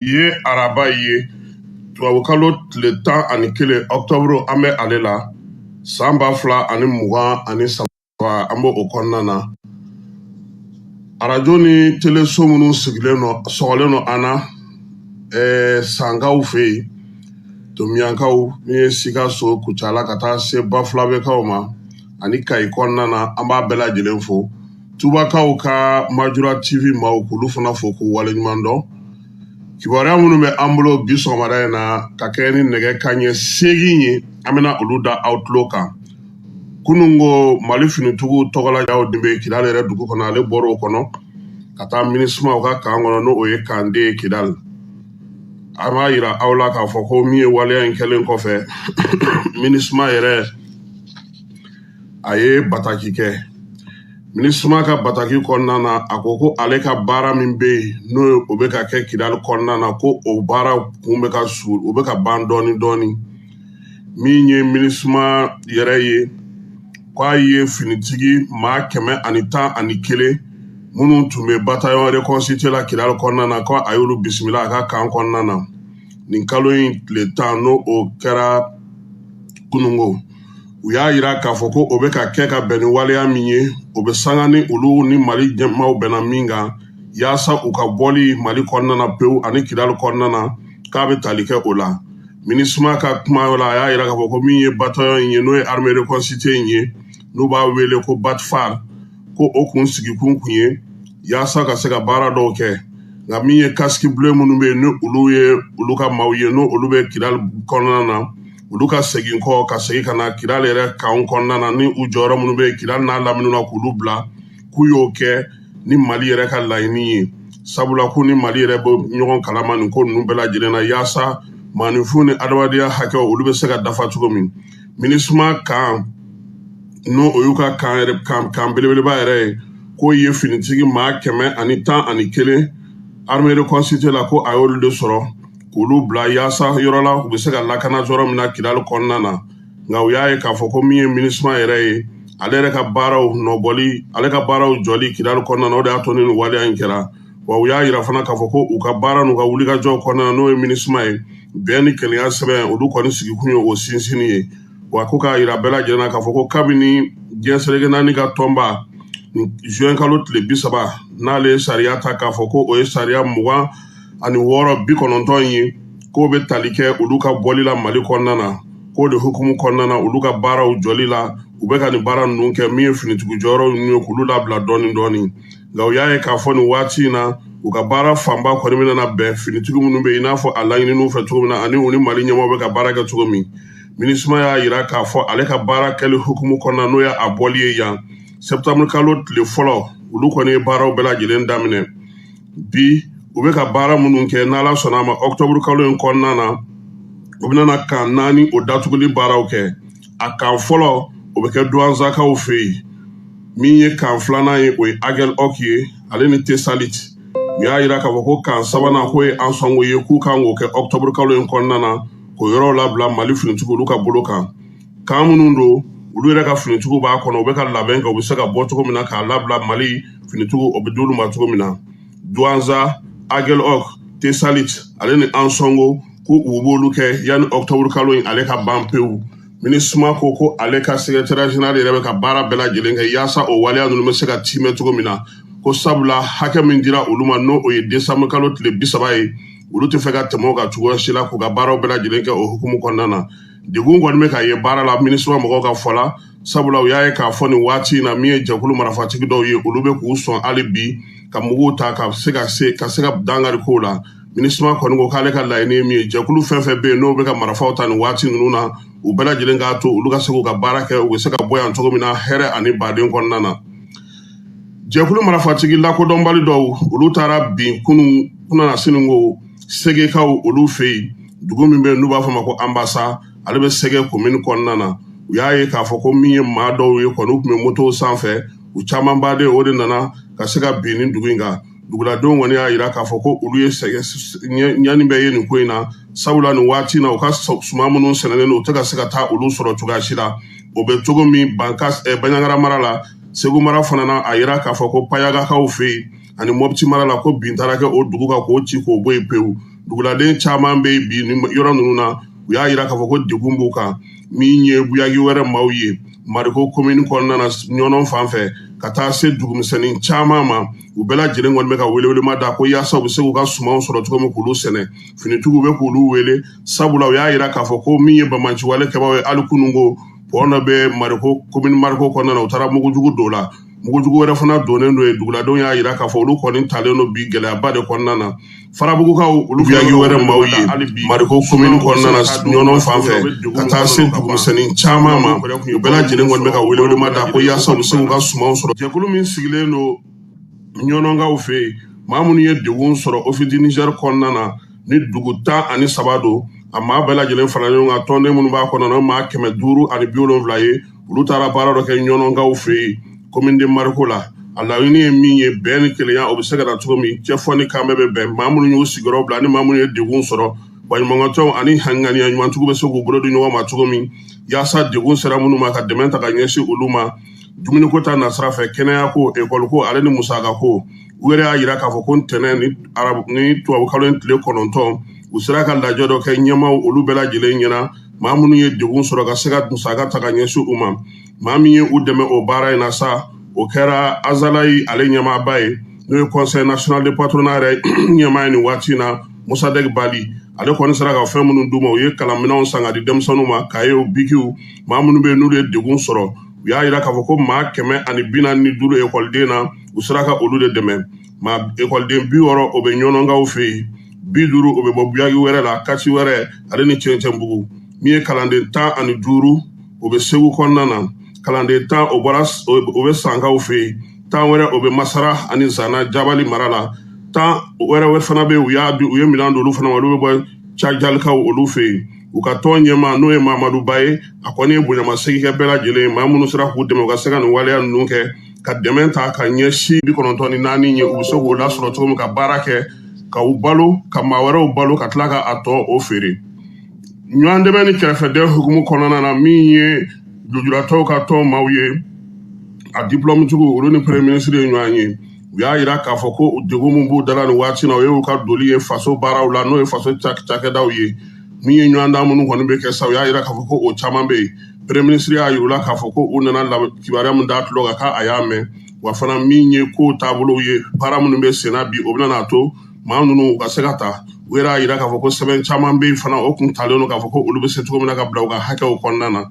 ye araba ye tubabukalo tile tan ani kelen ɔktɔburu an bɛ ale la san ba fila ani mugan ani saba an b'o o kɔnɔna na arajo ni teleso minnu sɔgɔlen nɔ an na ɛɛ sankaw fɛ yen tomiyankaw min ye sikaso kucala ka taa se bafulabekaw ma ani kayi kɔnɔna na an b'a bɛɛ lajɛlen fo tubakaw ka majura tv maw k'olu fana fo k'u waleɲuman dɔn kibaruya minnu bɛ an bolo bi sɔgɔmada in na ka kɛ ni nɛgɛ kaɲɛ seegin ye an bɛna olu da aw tulo kan kunun ko mali finitigiw tɔgɔlajaw de bɛ kidali yɛrɛ dugu kɔnɔ ale bɔra o kɔnɔ ka taa minisuma ka kan kɔnɔ n'o ye kande ye kidali an b'a yira aw la k'a fɔ ko min ye waleya in kɛlen kɔfɛ minisuma yɛrɛ a ye bataki kɛ minisuma ka bataki kɔnɔna na a ko ko ale ka baara min bɛ yen n'o ye o bɛ ka kɛ kidali kɔnɔna na ko o baara kun bɛ ka su o bɛ ka ban dɔɔni dɔɔni min ye minisuma yɛrɛ ye k'a ye finitigi maa kɛmɛ ani tan ani kelen minnu tun bɛ batayɔn reconstitué la kidali kɔnɔna na ko a y'olu bisimila a ka kan kɔnɔna na nin kalo in tile tan n'o o kɛra kununko u y'a yira k'a fɔ ko o bɛ ka kɛ ka bɛn ni waleya min ye o bɛ sanga ni olu ni mali ɲɛmaaw bɛnna min kan yaasa u ka bɔli mali kɔnɔna na pewu ani kidali kɔnɔna na k'a bɛ tali kɛ o la minisuma ka kuma la a y'a yira k'a fɔ ko min ye batayɔn in ye n'o ye armée reconstituée in ye n'u b'a wele ko batfar ko o kun sigikun kun ye yaasa ka se ka baara dɔw kɛ nka min ye casque bleu minnu bɛ yen ni olu ye olu ka maaw ye n'o olu bɛ kidali kɔnɔna na olu ka segin kɔ ka segin ka na kidali yɛrɛ kan kɔnɔna na ni u jɔyɔrɔ minnu bɛ kidali n'a lamini na k'olu bila k'u y'o kɛ ni mali yɛrɛ ka laɲini ye sabula k'u ni mali yɛrɛ bɛ ɲɔgɔn kalama nin ko ninnu bɛɛ lajɛlen na yaasa maaninfin ni adamadenya hakɛw olu bɛ se ka dafa cogo min minisuma kan n'o o y'u ka kan belebeleba yɛrɛ ye k'o ye finitigi maa kɛmɛ ani tan ani kelen armée reconstituée la ko a y'olu de sɔrɔ k'olu bila yaasa yɔrɔ la u bɛ se ka lakana yɔrɔ min na kidali kɔnɔna na nka u y'a ye k'a fɔ ko min ye minisuma yɛrɛ ye ale yɛrɛ ka baaraw nɔbɔli ale ka baaraw jɔli kidali kɔnɔna na o de y'a to ni nin waleya in kɛra wa u y'a yira fana k'a fɔ ko u ka baara n'u ka wulikajɔw kɔnɔna na n'o ye minisuma ye bɛn ni kelenya sɛbɛn olu kɔni sigikun ye o sinsinni ye wa ko k'a yira bɛɛ lajɛlen na k'a fɔ ko kabini diɲɛ seleke naani ka tɔnba juin kalo tile bi saba n'ale ye sariya ta k'a fɔ ko o ye sariya mugan ani wɔɔrɔ bi kɔnɔntɔn ye k'o bɛ tali kɛ olu ka bɔli la mali kɔnɔna na k'o de hukumu kɔnɔna na olu ka baaraw jɔli la u bɛ ka nin baara ninnu kɛ min ye finitigiw jɔyɔrɔ ninnu ye k'olu labila dɔɔni dɔɔni nka u y'a ye k'a fɔ nin waati in na u ka baara fanba kɔni bɛna na bɛn finitigi minnu bɛ yen i n'a fɔ a laɲininiw fɛ cogo min na ani u ni mali ɲɛmɔgɔ bɛ ka baara kɛ cogo min minisuma y'a yira k'a fɔ ale ka baara kɛli hukumu kɔnɔna n'o ye a bɔli ye yan sɛptanburu kalo tile fɔlɔ olu kɔni ye baaraw bɛɛ lajɛlen daminɛ bi u bɛ ka baara minnu kɛ n'ala sɔnna a ma ɔkutɔburu kalo in kɔnɔna na u bɛna kan naani o datuguli baaraw kɛ a kan fɔlɔ o bɛ kɛ duwanzakaw fɛ yen min ye kan filanan ye o ye agɛlɔk ye ale ni tesalit u y'a yira k'a fɔ ko kan sabanan k'o ye ansɔngo ye k'u kan k'o kɛ ɔkutɔburu kalo in kɔnɔna na k'o yɔrɔw labila mali finitigiw olu ka bolo kan kan minnu don olu yɛrɛ ka finitigiw b'a kɔnɔ u bɛ ka labɛn kɛ u bɛ se ka bɔ cogo min na k'a labila mali finitigiw o bɛ d'olu ma cogo min na duwanza agɛlɔk tesalit ale ni ansɔngo ko u b'olu kɛ yanni ɔktɔburu kalo in ale ka ban pewu minisuma ko ko ale ka sekretɛrɛ jeneral yɛrɛ bɛ ka baara bɛɛ lajɛlen kɛ yaasa o waleya ninnu bɛ se ka tiimɛ cogo min na ko sabula hakɛ min dira olu ma n'o o ye desanburu kalo tile bi saba ye olu tɛ fɛ ka tɛmɛ o kan cogoya si la k'u ka baaraw bɛɛ lajɛlen kɛ o hukumu kɔnɔna na degun kɔni bɛ ka ye baara la minisuma mɔgɔw ka fɔ la sabula u y'a ye k'a fɔ nin waati in na min ye jɛkulu marafatigi dɔw ye olu bɛ k'u sɔn hali bi ka muguw ta ka se ka dankari kow la minisuma kɔni ko k'ale ka laɲini ye min ye jɛkulu fɛn fɛn bɛ yen n'o bɛ ka marafaw ta nin waati ninnu na u bɛɛ lajɛlen k'a to olu ka se k'u ka baara kɛ u bɛ se ka bɔ yan cogo min na hɛrɛ ani baden kɔnɔna na jɛkulu marafatigi lakodɔnbali dɔw olu taara bin kunun kununasini ko segekaw olu fɛ yen dugu min bɛ yen n'u b'a fɔ ma ko anbasa ale bɛ sege komini kɔnɔna na u y'a ye k'a fɔ ko min ye maa dɔw ye kɔni u tun bɛ motow sanfɛ u camanba de o de nana ka se ka bin nin dugu in kan duguladenw kɔni y'a yira k'a fɔ ko olu ye ɲani bɛɛ ye nin ko in na sabula nin waati na u ka suma minnu sɛnɛnen don u tɛ ka se ka taa olu sɔrɔ cogoya si la o bɛ cogo min baɲagara mara la segu mara fana na a yira k'a fɔ ko payagakaw fɛ yen ani mɔputi mara la ko bin taara kɛ o dugu kan k'o ci k'o bɔ yen pewu duguladen caman bɛ bi nin yɔrɔ ninnu na u y'a yira k'a fɔ ko degun b'u kan min ye buyagi wɛrɛ maaw ye mariko komini kɔnɔna na ɲɔnɔn fan fɛ ka taa se dugumisɛnnin caman ma u bɛɛ lajɛlen kɔni bɛ ka welewelema da ko yaasa u bɛ se k'u ka sumanw sɔrɔ cogo min k'olu sɛnɛ finitigiw bɛ k'olu wele sabula u y'a yira k'a fɔ ko min ye banbaanciwale kɛbaaw ye hali kununko pɔn dɔ bɛ mariko komini mariko kɔnɔna na u taara mugujugu dɔw la mugujugu wɛrɛ fana donnen don yen duguladenw y'a yira k'a fɔ olu kɔni talen don bi gɛlɛyaba de kɔnɔna na farabugukaw olu buyaki wɛrɛ maaw ye mariko komini kɔnɔna na ɲɔnɔn fan fɛ ka taa se dugumisɛnnin caman ma u bɛɛ lajɛlen kɔni bɛ ka welewelema da ko yaasa u bɛ se k'u ka sumanw sɔrɔ jɛkulu min sigilen don ɲɔnɔnkaw fɛ yen maa minnu ye degun sɔrɔ office du niger kɔnɔna na ni dugu tan ani saba don a maa bɛɛ lajɛlen fara ɲɔgɔn kan tɔnden minnu b'a kɔnɔna na maa kɛmɛ duuru ani bi wolonwula ye olu taara baara dɔ kɛ ɲɔnɔnkaw fɛ yen commune de mariko la a laɲini ye min ye bɛn ni kelenya o bɛ se ka na cogo min cɛ fɔ ni kan bɛɛ bɛ bɛn maa minnu y'u sigiyɔrɔ bila ni maa minnu ye degun sɔrɔ baɲumankɛtɔnw ani ŋaniya ɲumantigiw bɛ se k'u bolo di ɲɔgɔn ma cogo min yaasa degun sera minnu ma ka dɛmɛ ta ka ɲɛsin olu ma dumuniko ta nasira fɛ kɛnɛya ko ekɔli ko ale ni musaka ko u yɛrɛ y'a yira k'a fɔ ko ntɛnɛn ni tubabukalo in tile kɔnɔntɔn u sera ka lajɛ dɔ kɛ ɲɛmaaw olu bɛɛ lajɛlen ɲɛna maa minnu ye degun sɔrɔ ka se ka musaka ta ka ɲɛsin u ma maa min ye u dɛmɛ o baara in na sa o kɛra azalayi ale ɲɛmaaba ye n'o ye conseil national de patronat yɛrɛ ɲɛmaa ye nin waati in na mosadɛk bali ale kɔni sera ka fɛn minnu d'u ma u ye kalanminɛnw san ka di denmisɛnninw ma kayew bikiw maa minnu bɛ yen n'olu ye degun sɔrɔ u y'a yira k'a fɔ ko maa kɛmɛ ani bi naani ni duuru ekɔliden na u sera ka olu de dɛmɛ maa ekɔliden bi wɔɔrɔ o bɛ ɲɔnɔnkaw fɛ yen bi duuru o bɛ bɔ buyaki wɛrɛ la kati wɛrɛ ale ni cɛncɛnbugu min ye kalanden tan ani duuru o bɛ segu kɔnɔna na kalanden tan o bɛ sankaw fɛ yen tan wɛrɛ o bɛ masara ani zana jabali mara la tan wɛrɛ fana bɛ yen u ye minɛn d'olu fana ma olu bɛ bɔ cajalikaw olu fɛ yen u ka tɔn ɲɛmaa n'o ye mamadu ba ye a kɔni ye bonyamasegin kɛ bɛɛ lajɛlen ye maa minnu sera k'u dɛmɛ u ka se ka nin waleya ninnu kɛ ka dɛmɛ ta ka ɲɛsin bi kɔnɔntɔn ni naani ye u bɛ se k'o lasɔrɔ cogo min ka baara kɛ ka u balo ka maa wɛrɛw balo ka tila ka a tɔ o feere ɲɔgɔn dɛmɛ ni kɛrɛfɛdɛn hukumu kɔnɔna na min ye lujuratɔw ka tɔn maaw ye a diplɔmutigiw olu ni premier ministre ye ɲɔgɔn ye u y'a yira k'a fɔ ko degun min b'u dala nin waati na o ye u ka doli ye faso baaraw la n'o ye faso cakɛdaw ye min ye ɲɔgɔndan minnu kɔni bɛ kɛ sa u y'a yira k'a fɔ ko o caman bɛ yen premier ministre y'a yir'u la k'a fɔ ko u nana kibaruya min d'a tulo kan k'a y'a mɛn wa fana min ye ko taabolow ye baara minnu bɛ senna bi o bɛna n'a to maa ninnu u ka se ka ta u yɛrɛ y'a yira k'a fɔ ko sɛbɛn caman bɛ yen fana o kun talen don k'a fɔ ko olu bɛ se cogo min na ka bila u ka hakɛw kɔnɔna na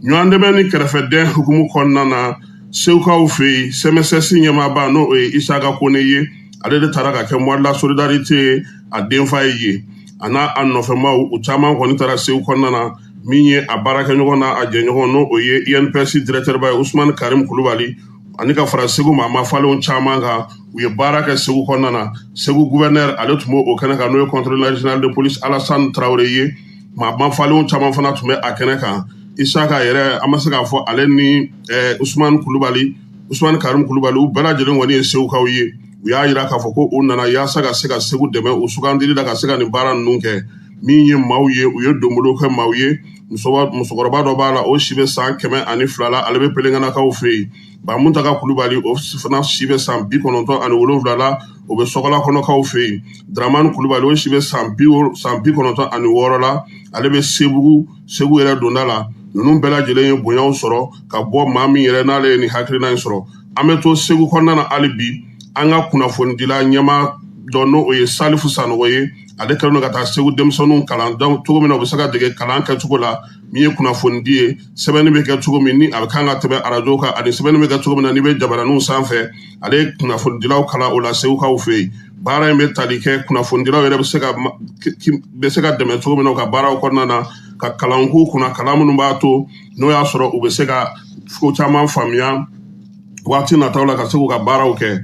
ɲɔgɔn dɛmɛ ni kɛrɛfɛdɛn hukumu kɔnɔna na segukaw fɛ yen sɛmɛsɛsi ɲɛmaaba n'o ye isaka kone ye ale de taara ka kɛ mois de la solidarité ye a denfa ye yen a n'a nɔfɛmaw u caman kɔni taara segu kɔnɔna na min ye a baarakɛɲɔgɔn n'a jɛɲɔgɔn n'o ye inps directeur ba ye usumani karim kulubali ani ka fara segu maa mafalenw caman kan u ye baara kɛ segu kɔnɔna na segu gouverneur ale tun b'o kɛnɛ kan n'o ye contrôle national de police alassane tarawele ye maa mafalenw caman fana tun bɛ a kɛnɛ kan isaka yɛrɛ an ma se k'a fɔ ale ni eh, usumani kulubali usumani karim kulubali u bɛɛ lajɛlen kɔni ye segukaw ye u y'a yira k'a fɔ ko u nana yaasa ka se ka segu dɛmɛ u sugandili la ka se ka nin baara ninnu kɛ min ye maaw ye u ye donbolo kɛ maaw ye musokɔrɔba dɔ b'a la o si bɛ san kɛmɛ ani fila la ale bɛ pelenkanakaw fɛ yen bamuntaga kulubali o fana si bɛ san bi kɔnɔntɔn ani wolonwula la o bɛ sɔgɔlakɔnɔkaw fɛ yen dramani kulubali o si bɛ san bi kɔnɔntɔn ani wɔɔrɔ la ale bɛ sebugu segu yɛrɛ donda la ninnu bɛɛ lajɛlen ye bonyaw sɔrɔ ka bɔ maa min yɛrɛ n'ale ye nin hakilina in sɔrɔ an bɛ to segu kɔnɔna na hali bi an ka kunnafonidila ɲɛmaa dɔ n'o ye salifu sanɔgɔ ye ale kɛlen don ka taa segu denmisɛnninw kalan cogo min na u bɛ se ka dege kalan kɛcogo la min ye kunnafonidi ye sɛbɛnni bɛ kɛ cogo min ni a bɛ kan ka tɛmɛ arajo kan ani sɛbɛnni bɛ kɛ cogo min na n'i bɛ jabaraninw sanfɛ ale ye kunnafonidilaw kalan o la segukaw fɛ yen baara in bɛ tali kɛ kunnafonidilaw yɛrɛ bɛ se ka bɛ se ka dɛmɛ cogo min na u ka baaraw kɔnɔna na ka kalan k'u kunna kalan minnu b'a to n'o y'a sɔrɔ u bɛ se ka ko caman faamuya waati nataw la ka se k'u ka baaraw kɛ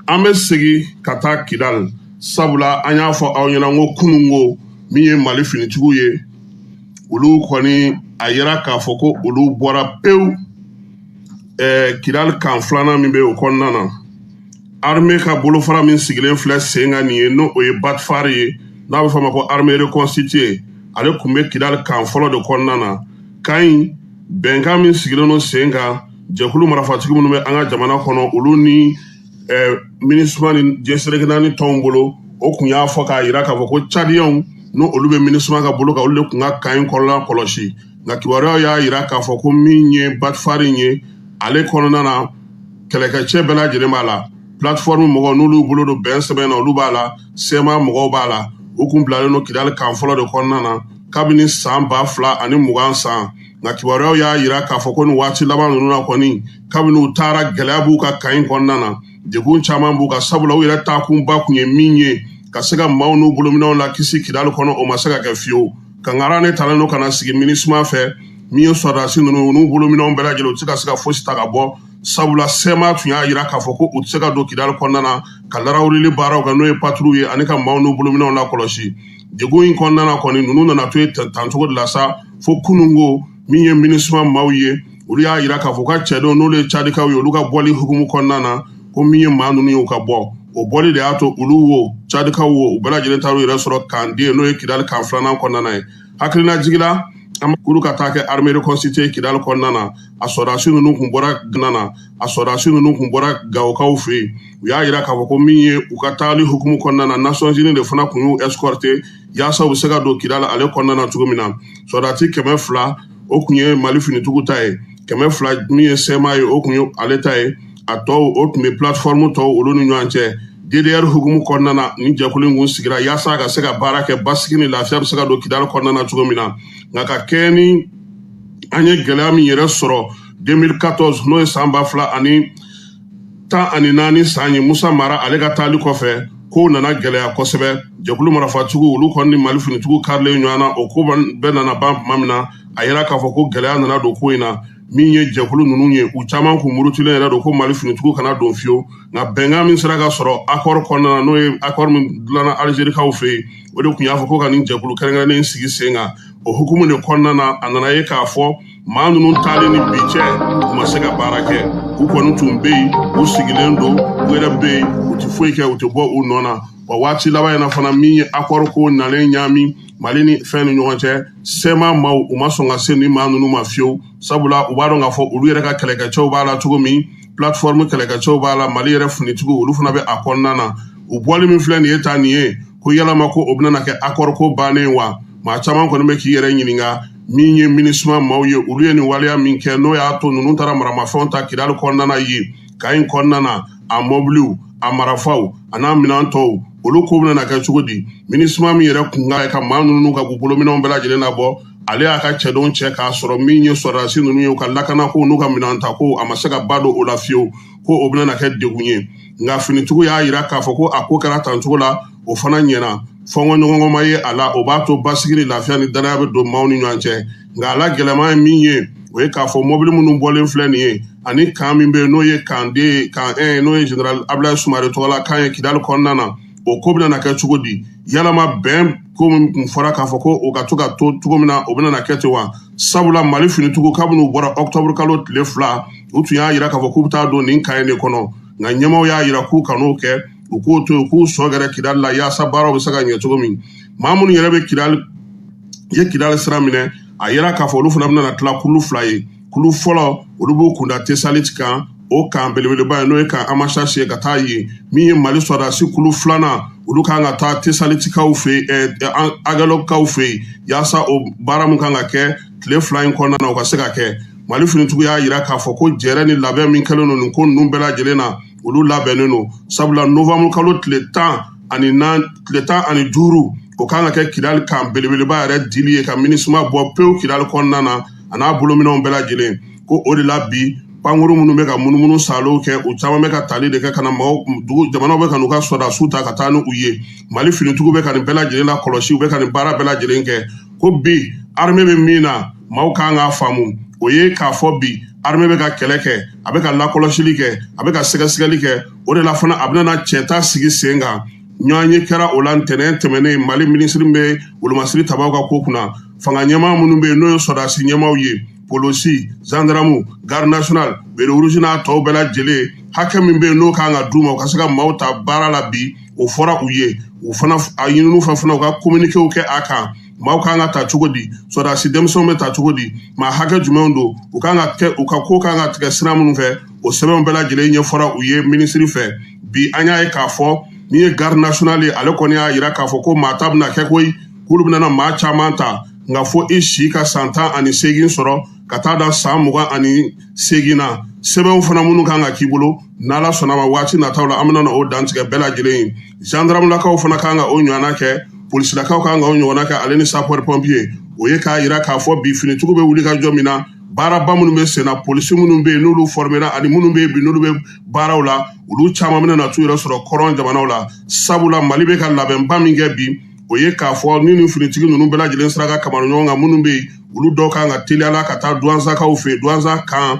an bɛ segin ka taa kidali sabula an y'a fɔ aw ɲɛna ko kunun ko min ye mali finitigiw ye olu kɔni a yira k'a fɔ ko olu bɔra pewu eh, kidali kan filanan min bɛ o kɔnɔna na arme ka bolofara min sigilen filɛ sen kan nin ye n'o ye batfari ye n'a bɛ fɔ a ma ko armée reconstituée ale tun bɛ kidali kan fɔlɔ de kɔnɔna na kan in bɛnkan min sigilen don sen kan jɛkulu marafatigi minnu bɛ an ka jamana kɔnɔ olu ni eh, minisuma ni jɛsereke naani tɔnw bolo o kun y'a fɔ k'a yira k'a fɔ ko cadiyɛnw n'olu bɛ minisuma ka bolo kan olu de kun ka kan in kɔnɔna kɔlɔsi nka kibaruyaw y'a yira k'a fɔ ko min ye batifari in ye ale kɔnɔna na kɛlɛkɛcɛ bɛɛ lajɛlen b'a la plateforme mɔgɔw n'olu bolo don bɛnsɛbɛn na olu b'a la sema mɔgɔw b'a la u kun bilalen don kidali kan fɔlɔ de kɔnɔna na kabini san ba fila ani mugan san nka kibaruyaw y'a yira k'a fɔ ko nin waati laban ninnu na kɔni kabini u taara gɛlɛya b'u ka kan in kɔnɔna na degun caman b'u kan sabula u yɛrɛ taakunba kun ye min ye ka se ka maaw n'u bolominɛw lakisi kidali kɔnɔ o ma se ka kɛ fiyewu kangara ne talen don ka na sigi minisuma fɛ min ye sɔrɔdasi ninnu n'u bolominɛw bɛɛ lajɛlen u tɛ se ka se ka fosi ta ka bɔ sabula sɛma tun y'a yira k'a fɔ ko u tɛ se ka don kidali kɔnɔna na ka larawulili baaraw kɛ n'o ye patrouille ye ani ka maaw n'u bolominɛw lakɔlɔsi Degun in kɔnɔna kɔni ninnu nana to yen tancogo de la sa fo kununko min ye minisuma maaw ye olu y'a jira k'a fɔ u ka cɛdenw n'olu ye cadikaw ye olu ka bɔli hukumu kɔnɔna na ko min ye maa ninnu ye u ka bɔ o bɔli de y'a to olu wo cadikaw wo u bɛɛ lajɛlen taar'u yɛrɛ sɔrɔ kan de n'o ye kidali kan filanan kɔnɔna na yen hakilinajigin la an k'olu ka taa kɛ armée reconstituée kidali kɔnɔna na a sɔrɔdasi ninnu kun bɔra gana a sɔrɔdasi ninnu kun bɔra gawokaw fɛ yen u y'a jira k'a fɔ ko min ye u ka taali hukumu kɔnɔna na nations unies de fana kun y'u escorter yaasa u bɛ se ka don kidali ale kɔnɔna na cogo min na sɔrɔdasi kɛmɛ fila o kun ye mali finitigiw ta ye kɛmɛ fila min ye sɛma ye o kun ye ale ta ye a tɔw o tun bɛ plateforme tɔw olu ni ɲɔgɔn cɛ DDR hukumu kɔnɔna na nin jɛkulu in kun sigira yaasa a ka se ka baara kɛ basigi ni lafiya bɛ se ka don kidali kɔnɔna na cogo min na nka ka kɛɲɛ ni an ye gɛlɛya min yɛrɛ sɔrɔ 2014 n'o ye san ba fila ani tan ani naani san ye musa mara ale ka taali kɔfɛ kow nana gɛlɛya kosɛbɛ jɛkulu marafatigiw olu kɔni ni mali finitigiw karilen ɲɔgɔn na o ko bɛɛ nana ban tuma min na a yira k'a fɔ ko gɛlɛya nana don ko in na min ye jɛkulu ninnu ye u caman kun murutilen yɛrɛ don ko mali finitigiw kana don fiyewu nka bɛnkan min sera ka sɔrɔ akɔri kɔnɔna na n'o ye akɔri min dilanna alizerikaw fɛ yen o de kun y'a fɔ ko ka nin jɛkulu kɛrɛnkɛrɛnnen sigi sen kan o hukumu de kɔnɔna na a nana ye k'a fɔ maa ninnu taalen ni bi cɛ u ma se ka baara kɛ u kɔni tun bɛ yen u sigilen don u yɛrɛ bɛ yen u tɛ foyi kɛ u tɛ bɔ u nɔ na wa waati laban in na fana min ye akɔri ko nalen ɲaami mali ni fɛn ni ɲɔgɔn cɛ sɛma maaw u ma sɔn ka se nin maa ninnu ma fiyewu sabula u b'a dɔn k'a fɔ olu yɛrɛ ka kɛlɛkɛcɛw b'a la cogo min plateforme kɛlɛkɛcɛw b'a la mali yɛrɛ finitigiw olu fana bɛ a kɔnɔna na u bɔli min filɛ nin ye tan nin ye ko yalama ko o bɛna na kɛ akɔri ko bannen wa maa caman kɔni bɛ k'i yɛrɛ ɲininka min ye minisuma maaw ye olu ye nin waleya min kɛ n'o y'a to ninnu taara maramafɛnw ta kidali kɔnɔna na yen kan in kɔnɔna na a mɔbiliw a marafaw an'a minɛn tɔw olu ko bɛna na kɛ cogo di minisuma min yɛrɛ kun ka ye ka maa ninnu ka k'u bolominɛnw bɛɛ lajɛlen labɔ ale y'a ka cɛdenw cɛ k'a sɔrɔ min ye sɔrɔdasi ninnu ye u ka lakanako n'u ka minɛn ta ko a ma se ka ba don o la fiyewu ko o bɛna na kɛ degun ye nka finitigiw y'a jira k'a fɔ ko a ko kɛra tancogo la o fana ɲɛna fɔnkɔ ɲɔgɔnkɔ ma ye a la o b'a to basigi ni lafiya ni danaya bɛ don maaw ni ɲɔgɔn cɛ nka a la gɛlɛman ye min ye o ye k'a fɔ mɔbili minnu bɔlen filɛ nin ye ani kan min bɛ yen n'o ye kan de kan ɛn n'o ye general abdulayi sumare tɔgɔla kan ye kidali kɔnɔna na o ko bɛna na kɛ cogo di yalama bɛn ko min tun fɔra k'a fɔ ko o ka to ka to cogo min na o bɛna na kɛ ten wa sabula mali finitigiw kabini u bɔra ɔkutɔburu kalo tile fila u tun y'a jira k'a fɔ k'u bɛ taa don nin kan in de kɔnɔ nka ɲɛmaaw y'a jira k'u kan'o kɛ u k'o to yen k'u sɔ gɛrɛ kidali la yaasa baaraw bɛ se ka ɲɛ cogo min maa minnu yɛrɛ bɛ kidali ye kidali sira minɛ a yira k'a fɔ olu fana bɛna tila kulu fila ye kulu fɔlɔ olu b'u kunda tesali kan o kan belebeleba ye n'o ye kan amasasi ye ka taa yen min ye mali sɔrɔdasi kulu filanan olu kan ka taa tesalitikaw fɛ yen eh, eh, agɛlɔkaw fɛ yen yaasa o baara min kan ka kɛ tile fila in kɔnɔna na o ka se ka kɛ mali finitigiw y'a yira k'a fɔ ko jɛrɛ ni labɛn min kɛlen don nin ko ninnu bɛɛ lajɛlen na olu labɛnnen don sabula nowanburu kalo tile tan ani nan tile tan ani duuru o kan ka kɛ kidali kan belebeleba yɛrɛ dili ye ka minisuma bɔ pewu kidali kɔnɔna na a n'a bolominɛnw bɛɛ lajɛlen ko o de la bi pankuru minnu bɛ ka munumunu salow kɛ u caman bɛ ka tali de kɛ ka na maaw dugu jamanaw bɛ ka n'u ka sɔrɔdasiw ta ka taa ni u ye mali finitigiw bɛ ka nin bɛɛ lajɛlen la kɔlɔsi u bɛ ka nin baara bɛɛ lajɛlen kɛ ko bi armée bɛ min na maaw kan k'a faamu o ye k'a fɔ bi armée bɛ ka kɛlɛ kɛ a bɛ ka lakɔlɔsili kɛ a bɛ ka sɛgɛsɛgɛli kɛ o de la fana a bɛna cɛta sigi sen kan ɲɔgɔnye kɛra o la ntɛnɛn tɛmɛnen mali minisiri bɛ wolomasiri tabaw ka ko kunna fanga ɲɛmaa minnu bɛ yen n'o ye sɔrɔdasi ɲɛmaaw ye polisi zandaramu garde nationale béret rouge n'a tɔw bɛɛ lajɛlen hakɛ min bɛ yen n'o kan ka d'u ma u ka se ka maaw ta baara la bi o fɔra u ye u fana a ɲininiw fana fana u ka kominikew kɛ a kan maaw kan ka ta cogo di sɔrɔdasi denmisɛnw bɛ ta cogo di maa hakɛ jumɛnw don u kan ka kɛ u ka ko kan ka tigɛ sira minnu fɛ o sɛbɛnw bɛɛ lajɛlen ɲɛfɔra u ye minisiri fɛ bi an y'a ye k'a fɔ min ye garde nationale ye ale kɔni y'a yira k'a fɔ ko maa ta bɛna kɛ koyi k'olu bɛna maa caman ta nka fo i si ka san tan ani seegin sɔrɔ ka taa da san mugan ani seegin na sɛbɛnw fana minnu kan ka k'i bolo n'ala sɔnna ma waati nataw la an bɛna na o dantigɛ bɛɛ lajɛlen ye zandaramulakaw fana kan ka o ɲɔgɔnna kɛ polisilakaw kan ka o ɲɔgɔnna kɛ ale ni sapɛri pɔnpiye o ye k'a yira k'a fɔ bi finitigiw bɛ wulikajɔ min na baaraba minnu bɛ senna polisi minnu bɛ yen n'olu fɔrɔmera ani minnu bɛ yen bi n'olu bɛ baaraw la olu caman bɛna na t'u yɛrɛ sɔrɔ kɔrɔn jamanaw la sabula mali bɛ ka labɛnba min kɛ bi o ye k'a fɔ ni nin finitigi ninnu bɛɛ lajɛlen sera ka kamara ɲɔgɔn kan minnu bɛ yen olu dɔw kan ka teliyala ka taa duwanzakaw fɛ duwanza kan